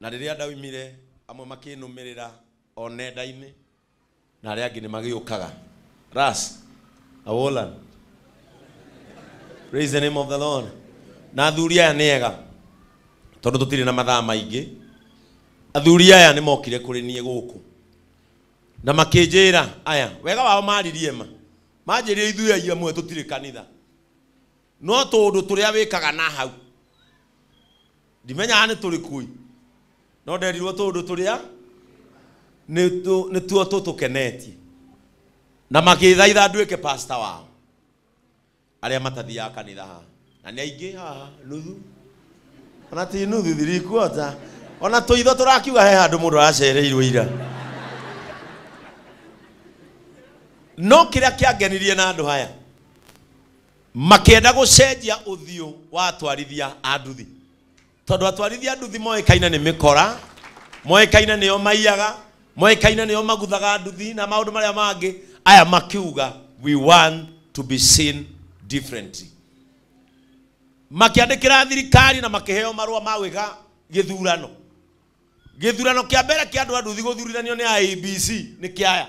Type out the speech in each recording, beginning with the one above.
Na rĩrĩa ndaoimire, amwe makĩnũmĩrĩra o nenda-inĩ, na arĩa angĩ nĩ magĩũkaga. Ras, Awolan. Praise the name of the Lord. Na athuri aya nĩ ega, tondũ tũtirĩ na mathaa maingĩ. Athuri aya nĩ mokire kũrĩ niĩ gũkũ na makĩnjĩra aya, wega wao maaririe ma, manjĩrire ithuĩ aia amwe tũtirĩ kanitha. No tũũndũ tũrĩa wĩkaga na hau. Ndimenyaga nĩ tũrĩkũ ĩ. No nderirwo tũũndũ tũrĩa nĩtuo tũtũkenetie. Na magĩthaitha nduĩke pastor wao. Arĩa matathiaga kanitha haha. Na nĩ aingĩ haha nuthu. Ona ti nuthu three quarter. Ona tũitho tũrakiuga he handũ mũndũ aracereirwo ira. No kĩrĩa kĩangenirie na andũ aya Makĩenda gũcenjia ũthiũ wa atwarithia a nduthi tondũ atwarithia a nduthi moĩkaine nĩ mĩkora, moĩkaine nĩo maiyaga, moĩkaine nĩo maguthaga nduthi na maũndũ marĩa mangĩ, aya makiuga we want to be seen differently. Makĩandĩkĩra thirikari na makĩheo marũa ma gwĩka gĩthurano. Gĩthurano kĩa mbere kĩa andũ a nduthi gũthurithanio nĩ IEBC nĩ kĩa aya.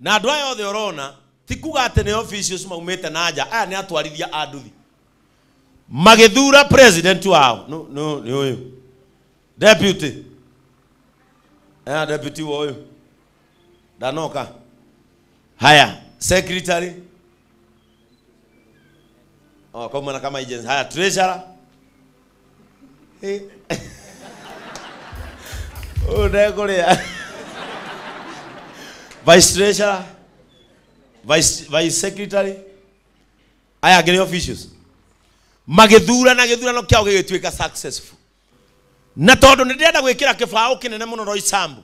Na andũ aya othe ũrona ti kuga atĩ nĩ officials maumĩte na nja, aya nĩ atwarithia a nduthi. Magĩthura president wao nũ, nũ, nĩ ũyũ. Deputy. Eh, deputy wa ũyũ. Ndanoka. Haya, secretary. Oh, kauma na kama agency. Haya, treasurer. Ĩ- ũyũ ndekũrĩa vice treasurer vice, vice secretary aya angĩ nĩ officials magĩthurana gĩthurano kĩao gĩgĩtuĩka successful na tondũ nĩ ndĩrenda gwĩkĩra kĩbaũ kĩnene mũno roicambu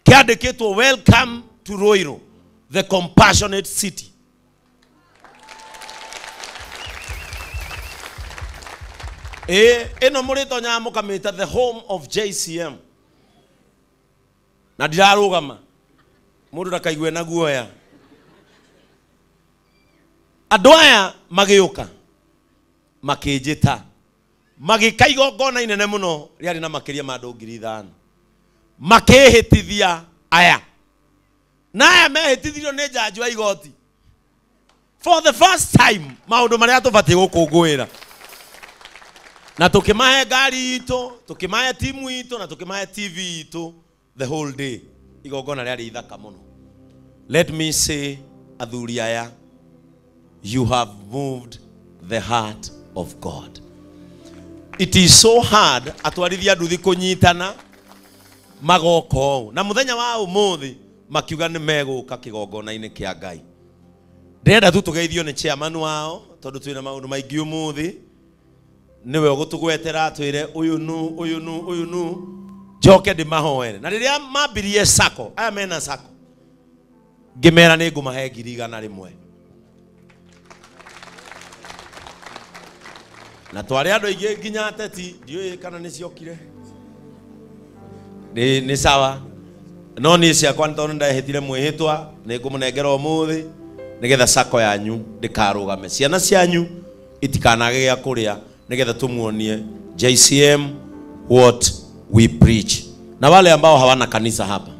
kĩandĩkĩtwo welcome to Ruiru the compassionate city ĩĩ ĩno mũrĩtonyaga mũkamĩta the home of JCM na ndirarũgama mũndũ ndakaigue na guoya andũ aya magĩũka makĩnjĩta magĩka igongona inene mũno rĩarĩ na makĩria ma andũ ngiri ithano makĩhĩtithia aya na aya mehĩtithirio nĩ njanjo ya igoti for the first time maũndũ marĩa tũbatiĩ gũkũngũĩra na tũkĩmahe ngari itũ tũkĩmahe timu itũ na tũkĩmahe tv itũ the whole day igongona rĩarĩ ithaka mũno let me say athuri aya you have moved the heart of god it is so hard atwarithia nduthi kũnyitana magoka ũũ na mũthenya wa ũmũthĩ makiuga nĩ megũka kĩgongona-inĩ kĩa ngai ndĩrenda tu tũgeithio nĩ chairman wao tondũ twĩna maũndũ maingĩ ũmũthĩ niwe ũgũtũgwetera atwĩre ũyũ nu ũyũ nu ũyũ nu njoke ndĩmahoere na rĩrĩa mambirie sako aya mena sako ngĩmera nĩ ngũmahe ngiri igana rĩmwe na twarĩ andũ aingĩ nginya ateti ndiũĩ kana nĩ ciokire nĩ nĩ sawa no niĩ ciakwa nĩ tondũ ndahĩtire mwĩhĩtwa nĩ ngũmũnengera ũmũthĩ nĩgetha sako yanyu ndĩkarũgame ciana cianyu itikanage gĩa kũrĩa nĩgetha tumuonie JCM what we preach. Na wale ambao hawana kanisa hapa,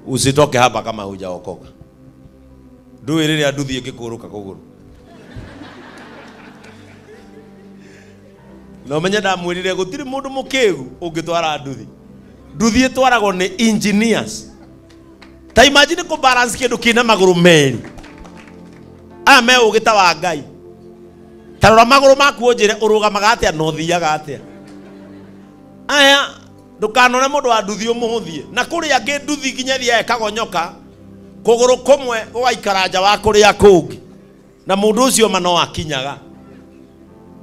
usitoke hapa kama hujaokoka. Ndui rĩrĩa nduthi ĩngĩkũrũka kũgũrũ na ũmenye ndamwĩrire gũtirĩ mũndũ mũkĩgu ũngĩtwara nduthi nduthi ĩtwaragwo nĩ engineers ta imagine kå balance kä ndå kä na magå rå merä aya me å gä ta wa ngai ta rora magå rå maku å njä re å rå gamaga atä a na å thiaga atä a aya ndũkanone mũndũ wa nduthi ũmũhũthie na kũrĩ angĩ nduthi nginya thiaga ĩkagonyoka kũgũrũ kũmwe gũgaikara nja wa kũrĩa kũngĩ na mũndũ ũcio ma no akinyaga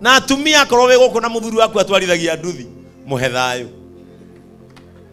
na atumia akorwo wĩ gũkũ na mũthuri waku atwarithagia nduthi mũhe thayũ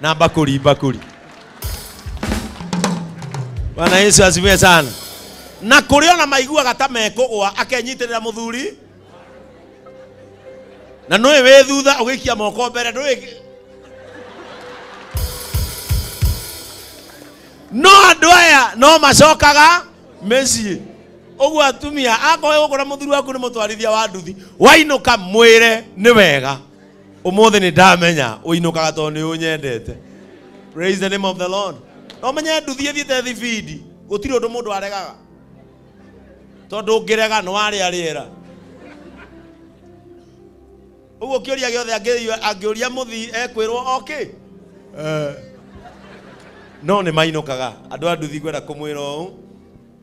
na bakuli bakuli. Bwana Yesu asifiwe sana. Na kũrĩa ona maiguaga ta mekũgwa akenyitĩrĩra mũthuri na nũĩ wĩ thutha ũgĩikia moko mbere ndũĩ no andũ aya no macokaga mĩciĩ ũguo atumia akorwo gũkũ na mũthuri waku nĩ mũtwarithia wa nduthi wainũka mwĩre nĩ wega umuthi ni ndamenya uinukaga tondu ni unyendete praise the name of the lord no menye nduthi thiete thibindi gutiri undu mundu aregaga tondu ungirega ni waria riera uguo kiuria giothe angi- angiuria muthi ekwirwo oki no ni mainukaga andu a nduthi ngwenda kumwira uu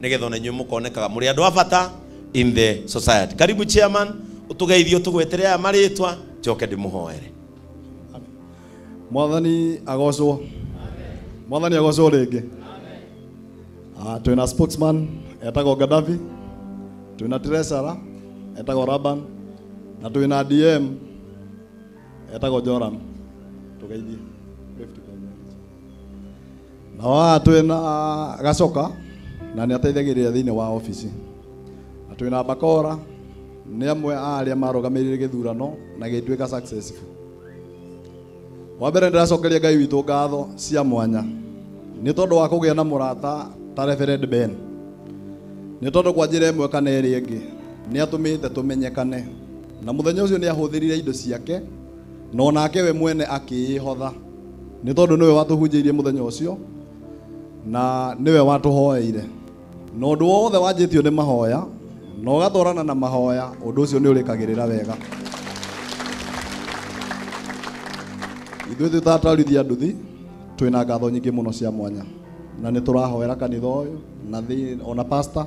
nigetha ona inyuĩ mũkonekaga mũrĩ andũ a bata in the society karibu chairman ũtũgeithie ũtũgwetere aya marĩtwa njoke ndĩmũhoere mwathani agocwo mwathani agocwo rĩngĩ Ah, twĩ na sportsman etagwo gadafi twĩ na tresara etagwo raban na twĩ na dm etagwo joram tũgeithie na waha twĩ na gacoka na nĩ ateithagĩrĩria thĩinĩ wa obici na twĩ na bakora nĩ amwe a arĩa marũgamĩrĩire gĩthurano na gĩtuĩka successful wa mbere ndĩracokeria ngai witũ ngatho cia mwanya nĩ tondũ wa kũgĩa na mũrata ta reverend ben nĩ tondũ kwa njĩra ĩmwe kana ĩrĩa ĩngĩ nĩ atũmĩte tũmenyekane na mũthenya ũcio nĩ ahũthĩrire indo ciake na o nake we mwene akĩĩhotha nĩ tondũ nĩwe watũhunjĩirie mũthenya ũcio na nĩwe watũhoeire na ũndũ wothe wanjĩtio nĩ mahoya na ũgatwarana na mahoya ũndũ ũcio nĩ ũrĩkagĩrĩra wega ithuĩ tũtatarithia nduthi twĩna ngatho nyingĩ mũno cia mwanya na nĩ tũrahoera kanitha ũyũ na thĩ ona pasta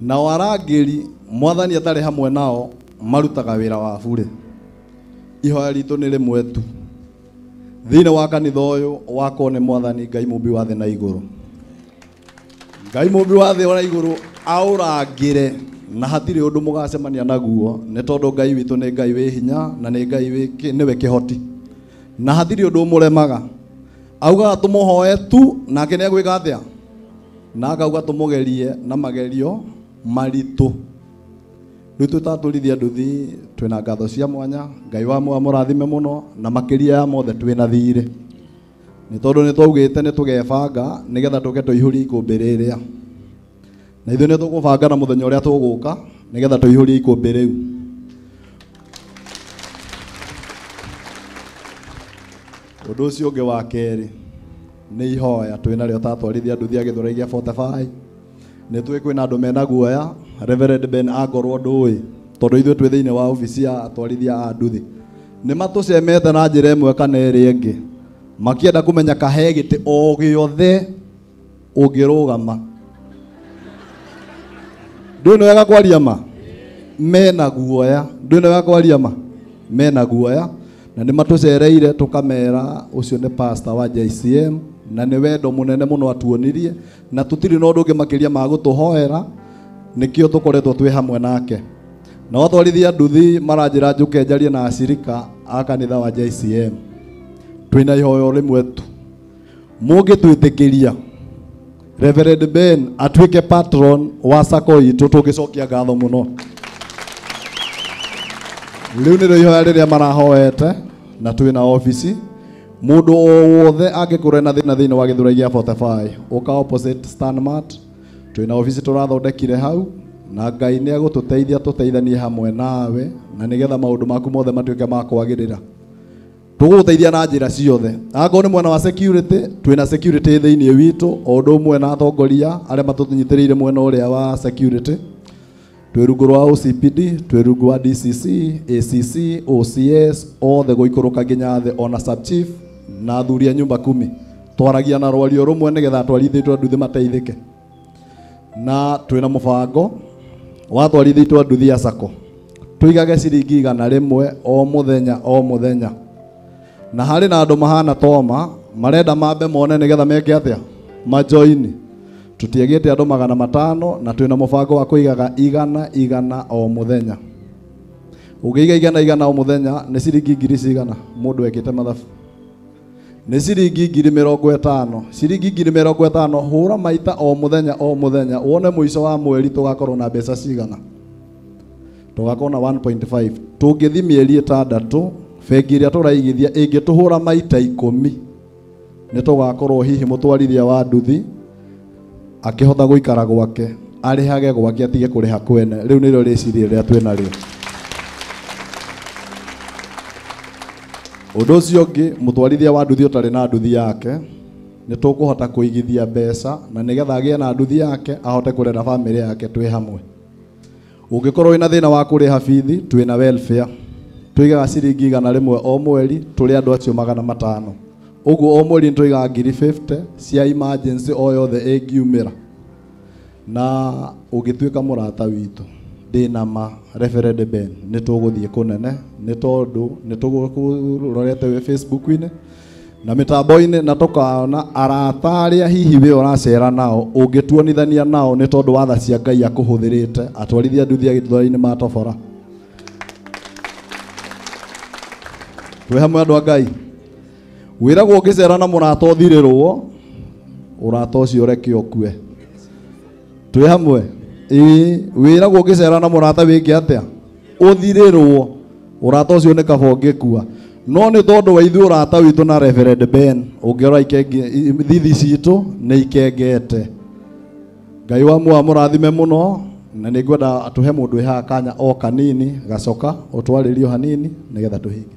Nao arangĩri, Mwathani atarĩ hamwe nao, marutaga wĩra wa burĩ. Ihoya ritũ nĩ rĩmwe tu thĩinĩ wa kanitha ũyũ wakwo nĩ Mwathani Ngai mũmbi wa thĩ na igũrũ. Ngai mũmbi wa thĩ na igũrũ aũrangĩre na hatirĩ ũndũ mũgacemania naguo nĩ tondũ Ngai witũ nĩ Ngai wĩ hinya na nĩ Ngai wĩ kĩ- nĩwe kĩhoti na hatirĩ ũndũ ũmũremaga. Augaga tũmũhoe tu nake nĩ egwĩka atĩa? na akauga tũmũgerie na magerio maritũ rĩu tũtatũrithia nduthi twĩna ngatho cia mwanya ngai wa moa mũrathime mũno na makĩria ya mothe twĩna thirĩ nĩ tondũ nĩ twaugĩte nĩ tũgebanga nĩgetha tũke tũihũrie ikũmbĩ rĩrĩa na ithuĩ nĩ tũgũbanga na mũthenya ũrĩa tũgũka nĩgetha tũihũrie ikũmbĩ rĩu Ũndũ ũcio ũngĩ wa kerĩ nĩ ihoya twĩ narĩo tatwarithia nduthi ya gĩthũrai gĩa Fortify. Nĩ tũĩ kwĩna andũ mena guoya Reverend Ben angorwo ndũĩ tondũ ithuĩ twĩ thĩinĩ wa obici ya atwarithia a nduthi nĩ matũcemete na njĩra ĩmwe kana ĩrĩa ĩngĩ makĩenda kũmenya kahe gĩtĩ o gĩothe ũngĩrũgama ndũĩ nĩ wega kwaria ma mena guoya ndũĩ nĩ wega kwaria ma mena guoya na nĩ matũcereire tũkamera ũcio nĩ pasta wa JCM na nĩ wendo mũnene mũno atuonirie na tũtirĩ na ũndũ ũngĩ makĩria ma gũtũhoera nĩkĩo tũkoretwo twĩ hamwe nake na watwarithia nduthi maranjĩra njũke njarie na acirika a kanitha wa JCM twĩna ihoyo rĩmwe tu mũngĩtwĩtĩkĩria Reverend Ben atuĩke patron wa sako itũ tũngĩcokia ngatho mũno rĩu nĩrĩo ihoya rĩrĩa marahoete na twĩ na obici mũndũ o wothe angĩkorwo na thĩna thĩinĩ wa gĩthura gĩa 45 ũka opposite stanmart twĩ na obici tũrathondekire hau na ngai nĩ agũtũteithia tũteithanie hamwe nawe na nĩgetha maũndũ maku mothe matuĩke ma kwagĩrĩra tũgũgũteithia na njĩra ciothe akorwo nĩ mwena wa security twĩna security thĩinĩ witũ o ũndũ ũmwe na atongoria arĩa matũnyitĩrĩire mwena ũrĩa wa security twĩ rungu rwa OCPD twĩ rungu wa DCC ACC OCS othe gũikũrũka nginya thĩ ona sub chief na athuri a nyumba kumi twaragia na rwario rũmwe nĩgetha atwarithĩtwo nduthi mateithĩke na twĩ na mũbango watwarithĩtwo nduthi ya sako tũigage ciringi igana rĩmwe o mũthenya o mũthenya na harĩ na andũ mahana toma marenda mambe mone nĩgetha meke atĩa majoini tũtiagĩte andũ magana matano na twĩ na mũbango wa kũigaga igana igana o mũthenya ũngĩiga igana igana o mũthenya nĩ ciringi ngiri cigana mũndũ ekĩte mathabu nĩ ciringi ngiri mĩrongo ĩtano ciringi ngiri mĩrongo ĩtano hũra maita o mũthenya o mũthenya wone mũico wa mweri tũgakorwo na mbeca cigana tũgakorwo na 1.5 tũngĩthi mĩeri ĩtandatũ bengi ĩrĩa tũraigithia ĩngĩtũhũra maita ikũmi nĩ tũgakorwo hihi mũtwarithia wa nduthi akĩhota gũikara gwake arĩhage gwake atige kũrĩha kwene rĩu nĩrĩo rĩciria rĩrĩa twĩ narĩo ũndũ ũcio ũngĩ mũtwarithia wa nduthi ũtarĩ na nduthi yake nĩ tũkũhota kũigithia mbeca na nĩgetha agĩe na nduthi yake ahote kũrera bamĩrĩ yake twĩ hamwe Ũngĩkorwo wĩna thĩna wa kũrĩha bithi, twĩna welfare. Tũigaga ciringi igana rĩmwe o mweri, tũrĩ andũ acio magana matano. Ũguo o mweri nĩ tũigaga ngiri 50 cia emergency o yothe ĩngiumĩra. Na ũngĩtuĩka mũrata witũ, ndĩ na ma Reverend Ben, nĩ tũgũthiĩ kũnene, nĩ tondũ nĩ tũgũkũrorete wĩ Facebook-inĩ, na mĩtambo-inĩ na tũkaona arata arĩa hihi we ũracera nao ũngĩtuonithania nao nĩ tondũ wa tha cia ngai akũhũthĩrĩte atwarithia nduthi agĩtũthora-inĩ ma tobora twĩ hamwe andũ a ngai wĩragwo ũngĩcera na mũrata ũthirĩrwo ũrata ũcio ũreke ũkue twĩ hamwe ĩĩ wĩragwo ũngĩcera na mũrata wĩke atĩa ũthirĩrwo ũrata ũcio nĩ kaba ũngĩkua no nĩ tondũ wa ithuĩ ũrata witũ na Reverend Ben ũngĩrora ikenge i- thithi citũ nĩ ikengete ngai wa muoyo amũrathime mũno na nĩ ngwenda atũhe mũndũ ehaga kanya o kanini gacoka ũtwarĩrio hanini nĩgetha tũhinge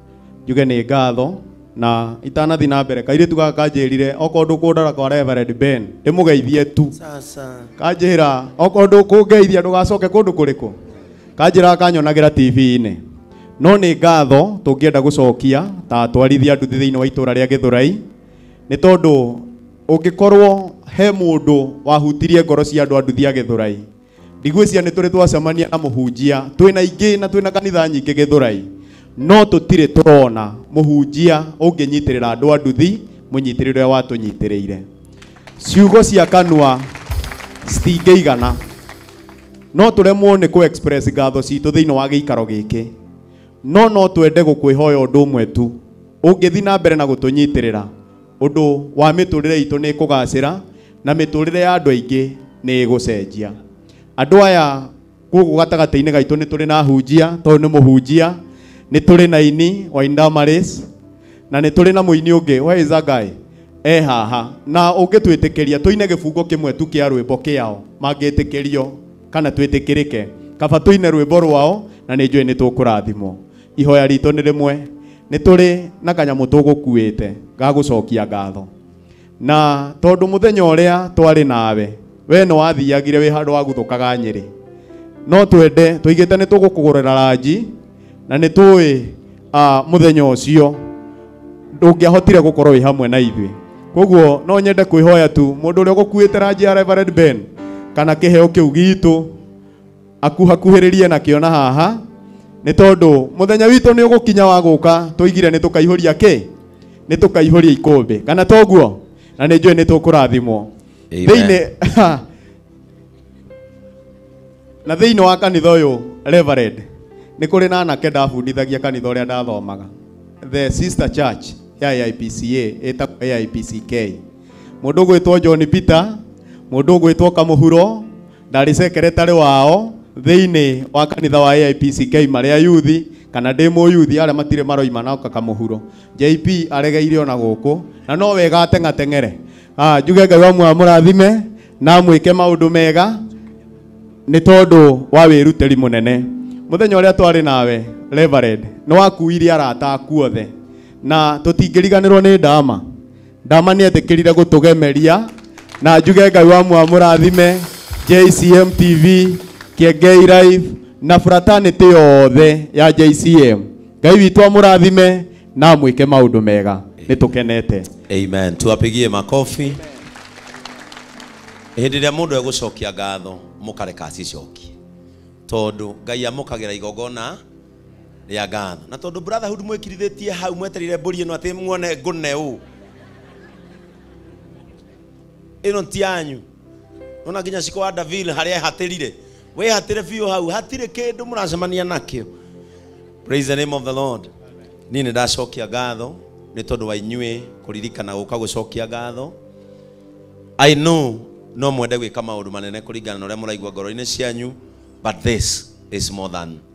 njuge nĩ ngatho na itanathi na mbere kairĩtu gaka kanjĩrire okorwo ndũkũndara kwa Reverend Ben ndĩmũgeithie tu sasa kanjĩra okorwo ndũkũngeithia ndũgacoke kũndũ kũrĩkũ kanjĩra kanyonagĩra tv-inĩ no nĩ ngatho tũngĩenda gũcokia ta atwarithia nduthi thĩinĩ wa itũra rĩa gĩthũrai nĩ tondũ ũngĩkorwo he mũndũ wahutirie ngoro cia andũ a nduthi a gĩthũrai ndigwĩciria nĩ tũrĩ twacemania na mũhunjia twĩ na ingĩ na twĩ na kanitha nyingĩ gĩthũrai no tũtirĩ tũrona mũhunjia ũngĩnyitĩrĩra andũ a nduthi mũnyitĩrĩre ũrĩa watũnyitĩrĩire ciugo cia kanua citingĩigana no tũremwo nĩ kũ express ngatho citũ thĩinĩ wa gĩikaro gĩkĩ no no twende gũkwĩhoya ũndũ ũmwe tu ũngĩthi na mbere na gũtũnyitĩrĩra ũndũ wa mĩtũrĩre itũ nĩ ĩkũgacĩra na mĩtũrĩre ya andũ aingĩ nĩ ĩgũcenjia. Andũ aya gũkũ gatagatĩ-inĩ gaitũ nĩ tũrĩ na hunjia, tondũ nĩ mũhunjia, nĩ tũrĩ na ini wa Indamaris, na nĩ tũrĩ na mũini ũngĩ where is that guy? e haha na ũngĩtwĩtĩkĩria tũine gĩbungo kĩmwe tu kĩa rwĩmbo kĩao mangĩtĩkĩrio kana twĩtĩkĩrĩke kaba tũine rwĩmbo rwao na nĩ njũĩ nĩ tũkũrathimwo ihoya ritũ nĩ rĩmwe nĩ tũrĩ na kanyamũ tũgũkuĩte ga gũcokia ngatho na tondũ mũthenya ũrĩa twarĩ nawe we nĩ wathiagire wĩ handũ wa guthũkaga nyĩrĩ no twende tũigĩte nĩ tũgũkũgũrĩra ranji na nĩ tũĩ ah, mũthenya ũcio ndũngĩahotire gũkorwo wĩ hamwe na ithuĩ koguo no nyende kwĩhoya tu mũndũ ũrĩa ũgũkuĩte ranji ya Reverend Ben kana kĩheo kĩu gitũ akuhakuhĩrĩrie nakĩo na haha nĩ tondũ mũthenya witũ nĩ ũgũkinya wa gũka tũigire nĩ tũkaihũria kĩ nĩ tũkaihũria ikũmbĩ kana toguo na nĩ njũĩ nĩ tũkũrathimwo Amen. thĩinĩ na thĩinĩ wa kanitha ũyũ reverend nĩ kũrĩ na anake ndabundithagia kanitha ũrĩa ndathomaga the sister church ya AIPCA ĩtagwo AIPCK mũndũ ũgwĩtwo John Peter mũndũ ũgwĩtwo Kamũhuro ndarĩ secretary wao thĩinĩ wa kanitha wa AIPCK marĩa yuthi kana ndĩ mũyuthi arĩa matirĩ maroima na kakamũhuro JP aregeire ona gũkũ na no wega ateng'ateng'ere Ah, njuge ngai wa muoyo amũrathime na amwĩke maũndũ mega nĩ tondũ wa wĩrutĩri mũnene mũthenya ũrĩa twarĩ nawe Reverend nĩ wakuire arata aku othe na tũtingĩriganĩrwo nĩ ndama ndama nä etĩkĩrire gũtũgemeria na njuge ngai wa mwamũrathime jcm tv kĩengei live na fratanĩtĩ yothe ya jcm ngai witũ amũrathime na amwĩke maũndũ mega nĩ tũkenete amen tuwapigie makofi hĩndĩ ĩrĩa mũndũ egũcokia ngatho mũkareka acicokie tondũ ngai amũkagĩra igongona rĩa ngano na tondũ brotherhood mwĩkirithĩtie hau mweterire mbũri ĩno atĩ muone ngũne ũ ĩno ti yanyu nona nginya ciko wa davil harĩa ehatĩrire wĩhatĩre biũ hau hatirĩ kĩndũ mũracemania nakĩo praise the name of the lord niĩ nĩ ndacokia ngatho nĩ tondũ wa inyuĩ kũririkana gũka gũcokia ngatho i know no mwende gwĩka maũndũ manene kũringana na ũrĩa mũraigua ngoro-inĩ cianyu but this is more than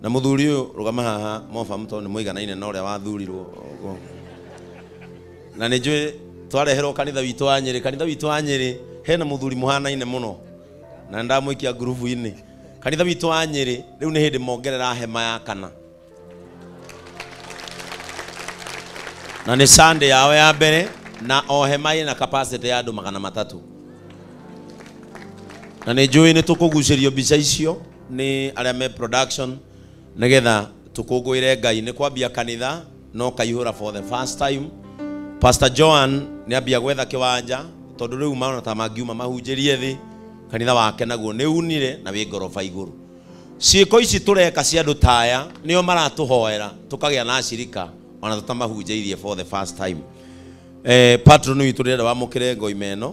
Na mũthuri ũyũ rũgama haha mobamu tondũ nĩ mũiganaine na ũrĩa wathurirwo ũguo. Na nĩ njũĩ twareherwo kanitha witũ wa Nyĩrĩ. Kanitha witũ wa Nyĩrĩ hena mũthuri mũhanaine mũno na nĩ ndamũikia ngurubu-inĩ. Kanitha witũ wa Nyĩrĩ rĩu nĩ hĩndĩ mongerera hema ya kana. Na nĩ Sunday yao ya mbere na o hema ĩna capacity ya andũ magana matatũ. Na nĩ njũĩ nĩ tũkũgucĩrio mbica icio nĩ arĩa me production nĩgetha tũkũngũĩre Ngai nĩ kwambia kanitha no kaihũra for the first time Pastor Joan nĩ ambia gwetha kĩwanja tondũ rĩu maona ta mangiuma mahunjĩrie thĩ kanitha wake naguo nĩ unire na wĩ ngoroba igũrũ ciĩko ici tũreka cia andũ taya nĩo maratũhoera tũkagĩa na acirika ona tũtamahunjĩirie for the first time eh, patron witũ ndĩrenda wamũkĩre ngoima ĩno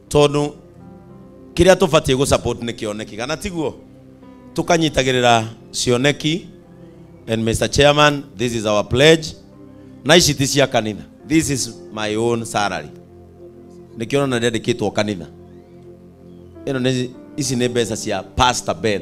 tondu kiria tubatie gu support ni kioneki kana tiguo tukanyitagirira cioneki and Mr Chairman this is our pledge na ici ti cia kanitha this is my own salary nikiona na ndendikitwo kanitha ino ni ici ni mbeca cia Pastor Ben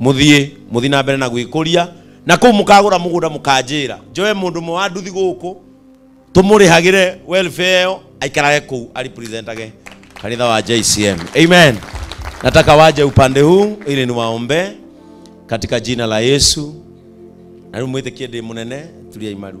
mũthiĩ mũthiĩ na mbere na gwĩkũria na kũu mũkagũra mũgũnda mũkanjĩra njoe mũndũ ũmwe wa nduthi gũkũ tũmũrĩhagĩre welfare ĩyo aikarage kũu aripresentage kanitha wa JCM amen nataka waje upande huu ili niwaombee katika jina la Yesu na rĩu mwĩtĩkie ndĩ mũnene turia imaru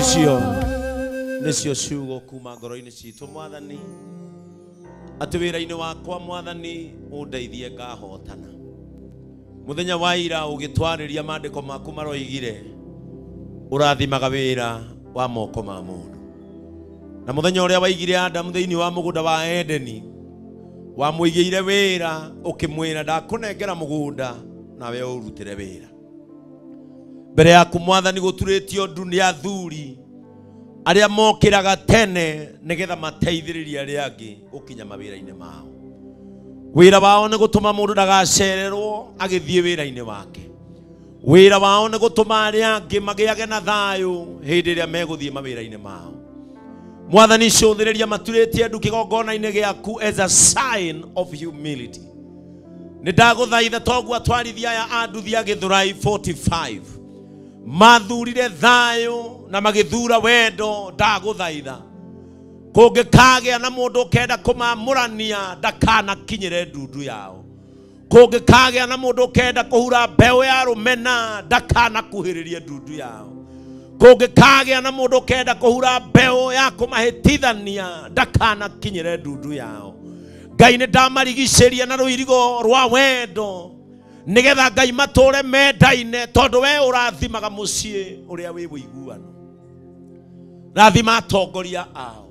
icio nĩcio ciugo kuma ngoro-inĩ citũ mwathani atĩ wĩra-inĩ wakwa mwathani ũndeithie ngahotana mũthenya wa ira ũgĩtwarĩria maandĩko maku maroigire ũrathimaga wĩra wa moko ma mũndũ na mũthenya ũrĩa waigire adamu thĩinĩ wa mũgũnda wa edeni wamũigĩire wĩra ũkĩmwĩra ndakũnengera mũgũnda nawe ũrutĩre wĩra mbere yaku mwathani gũturĩtio ndu nĩ athuri arĩa mokĩraga tene nĩgetha mateithĩrĩrie arĩa angĩ gũkinya mawĩra-inĩ mao wĩra wao nĩ gũtũma mũndũ ndagacererwo agĩthiĩ wĩra-inĩ wake wĩra wao nĩ gũtũma arĩa angĩ magĩage na thayũ hĩndĩ ĩrĩa megũthiĩ mawĩra-inĩ mao mwathani cũthĩrĩria maturĩtie ndu kĩgongona-inĩ gĩaku as a sign of humility nä ndagåthaitha toguo atwarithia aya a nduthi a gĩthũrai 45 mathurire thayũ na magĩthura wendo ndagũthaitha kũngĩkagĩa na mũndũ ũkenda kũmamũrania ndakanakinyĩre ndundu yao kũngĩkagĩa na mũndũ ũkenda kũhura mbeũ ya rũmena ndakanakuhĩrĩrie ndundu yao kũngĩkagĩa na mũndũ ũkenda kũhura mbeũ ya kũmahĩtithania ndakanakinyĩre ndundu yao ngai nĩ ndamarigicĩria na rũirigo rwa wendo nĩgetha ngai matũre mendaine tondũ we ũrathimaga mũciĩ ũrĩa wĩ ũiguano rathima atongoria ao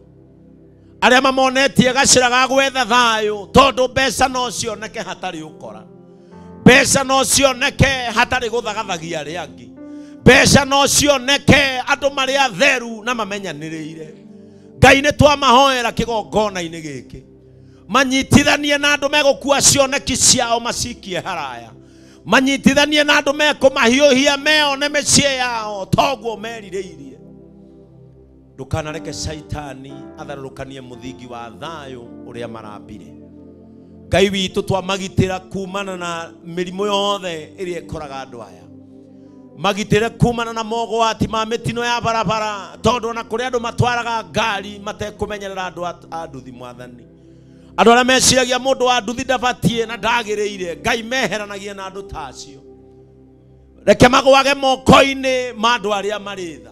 arĩa mamonetie gacĩra ga gwetha thayũ tondũ mbeca no cioneke hatarĩ ũkora mbeca no cioneke hatarĩ gũthagathagia arĩa angĩ mbeca no cioneke andũ marĩ atheru na mamenyanĩrĩire ngai nĩ twamahoera kĩgongona-inĩ gĩkĩ manyitithanie na andũ megũkua cioneki ciao macikie haraya manyitithanie na andũ mekũmahiũhia meone mĩciĩ yao toguo merirĩirie ndũkanareke caitani atharũrũkanie mũthingi wa thayũ ũrĩa marambire ngai witũ twamagitĩra kumana na mĩrimũ yothe ĩrĩa ĩkoraga andũ aya magitĩre kumana na mogwati ma mĩtino ya barabara tondũ ona kũrĩ andũ matwaraga ngari matekũmenyerera andũ a- a nduthi mwathani andũ arĩa meciragia mũndũ wa nduthi ndabatiĩ na ndagĩrĩire ngai meheranagia na andũ ta acio reke magwage moko-inĩ ma andũ arĩa marĩ tha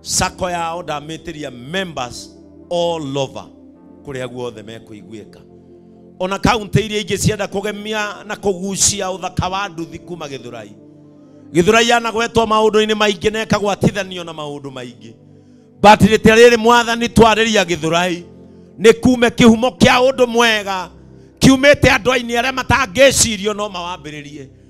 sako yao ndamĩtĩria members all over kũrĩa guothe mekũiguĩka ona kaunti iria ingĩ cienda kũgemia na kũgucia ũthaka wa nduthi kuma gĩthũrai gĩthũrai yanagwetwo maũndũ-inĩ maingĩ na ĩkagwatithanio na maũndũ maingĩ but rĩtĩa rĩrĩ mwathani twarĩria gĩthũrai nĩ kume kĩhumo kĩa ũndũ mwega kiumĩte andũ-inĩ arĩa matangĩcirio no mawambĩrĩrie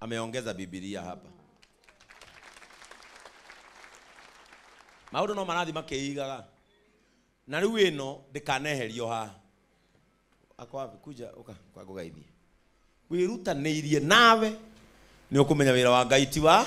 ameongeza bibilia hapa maundu no marathi makiigaga na riu ino ndikaneherio haha ako wapi kuja uka kwa ngugeithie wirutaniirie nawe nä å kå menya wä ra wa ngai ti wa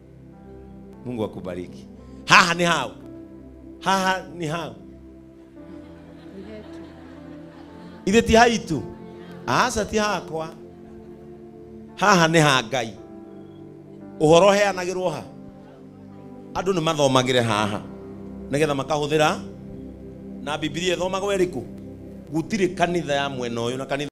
Mungu akubariki. Haha ni hau, haha ni hau, ithe ti haitu, aca ti hakwa, haha ni ha Ngai. Ũhoro ũheanagĩrwo ha, andũ nĩ mathomagĩre haha nĩgetha makahũthĩra na Biblia ĩthomagwo ĩrĩkũ? Gũtirĩ kanitha ya mwena ũyũ na kanitha